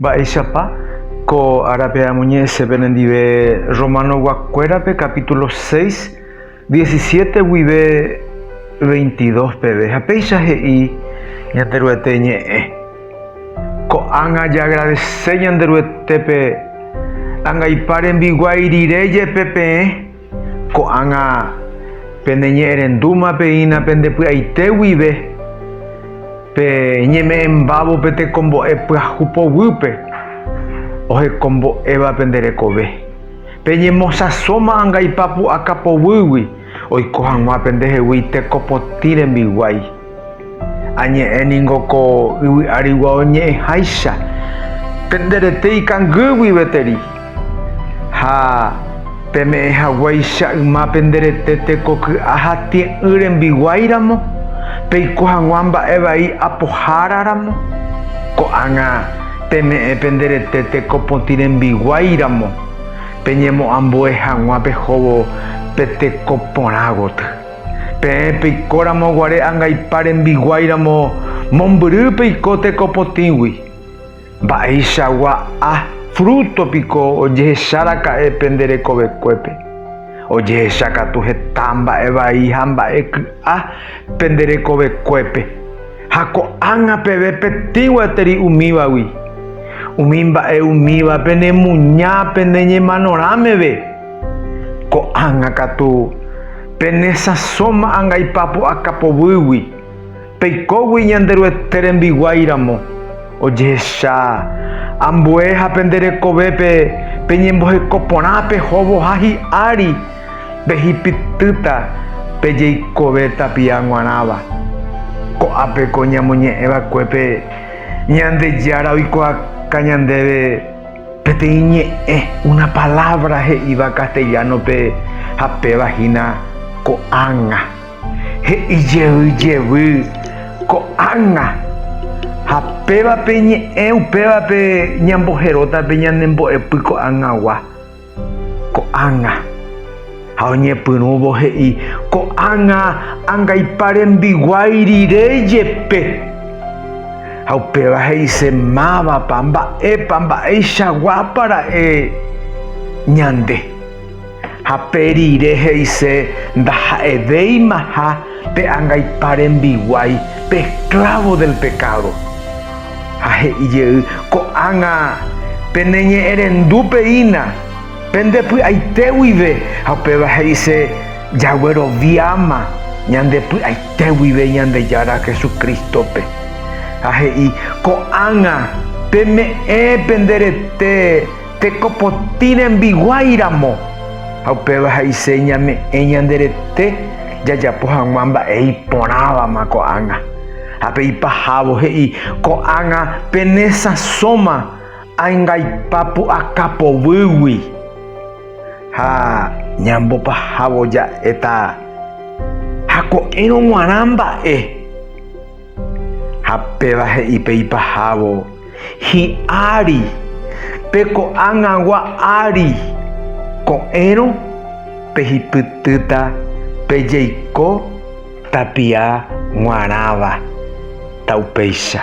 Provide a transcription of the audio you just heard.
Mba'éichapa ko árape amoñe'ẽse penendive Romanoguakuérape capítulo seis, diecisiete guive veintidos peve, ha péicha he'i Ñanderuete ñe'ẽ, Ko'ág̃a jaagradese Ñanderuetépe angaipa rembiguái rire jepe peẽ. Ko'ág̃a peneñe'ẽrendúma peína pende py'aite guive, pe ñeme'ẽmbávo pe tekombo'e pyahu poguýpe ohekombo'éva pende rekove, peñemosãsóma angaipa pu'aka poguýgui oiko hag̃ua pendehegui tekopotĩ rembiguái. Añe'ẽ ningo ko yvy arigua oñe'ẽháicha pende rete ikangy guive teri, ha peme'ẽ haguéicha yma pende rete teko ky'a ha tie'ỹ rembiguái ramo, peiko hag̃ua mba'e vai apohára ramo, ko'ág̃a peme'ẽ pende rete teko potĩ rembiguái ramo, peñemo'ambue hag̃ua pehóvo pe teko porã goty. Peẽ peikóramo guare angaipa rembiguái ramo, mombyry peiko teko potĩgui. Mba'eichagua a fruto piko ojehecha raka'e pende rekovekuépe? Ojehecha katu heta mba'e vai ha mba'e ky'a pende rekovekuépe, ha ko'ág̃a peve petĩ gueteri umívagui. Umi mba'e umíva penemuña pene ñemanorã meve. Ko'ág̃a katu, penesãsóma angaipa pu'aka povýgui, peikógui Ñanderuete rembiguái ramo, ojehecha ambue ha pende rekovépe peñemboheko porã pehovoha hi'ári, pehipytýta pe jeikove tapia g̃uarãva. Ko'ápe ko ñamoñe'ẽ vakuépe Ñandejára oikuaáka ñandéve. Peteĩ ñe'ẽ, una palabra he'íva castellano-pe ha péva hína ko'ág̃a. He'i jey jevy ko'ág̃a. Ha péva pe ñe'ẽ upévape ñamboheróta pe ñanembo'epy ko'ág̃agua. Ko'ág̃a. Ha oñepyrũvo he'i, Ko'ág̃a angaipa rembiguái rire jepe. Ha upéva he'ise, Mávapa, mba'épa, mba'eichaguápa ra'e ñande. Ha pe rire he'ise, Ndaha'evéimaha pe angaipa rembiguái, pe esklávo del pekádo. Ha he'i jey, Ko'ág̃a peneñe'ẽrendúpe hína. Pende py'aite guive, ha upéva he'ise jagueroviáma ñande py'aite guive Ñandejára Jesucristo-pe. Ha he'i, Ko'ág̃a, peme'ẽ pende rete teko potĩ rembiguái ramo. Ha upéva he'ise ñame'ẽ ñande rete jajapo hag̃ua mba'e iporãvama ko'ág̃a. Ha pe ipahávo he'i, Ko'ág̃a pene sãsóma Angaipa pu'aka poguýgui ha ñambopahávo ja'éta ha ko'ẽrõ g̃uarã mba'e. Ha péva he'i pe ipahávo, Hi'ári, pe ko'ag̃agua ári, ko'ẽrõ pehipytýta pe jeiko tapia g̃uarãva ta upéicha.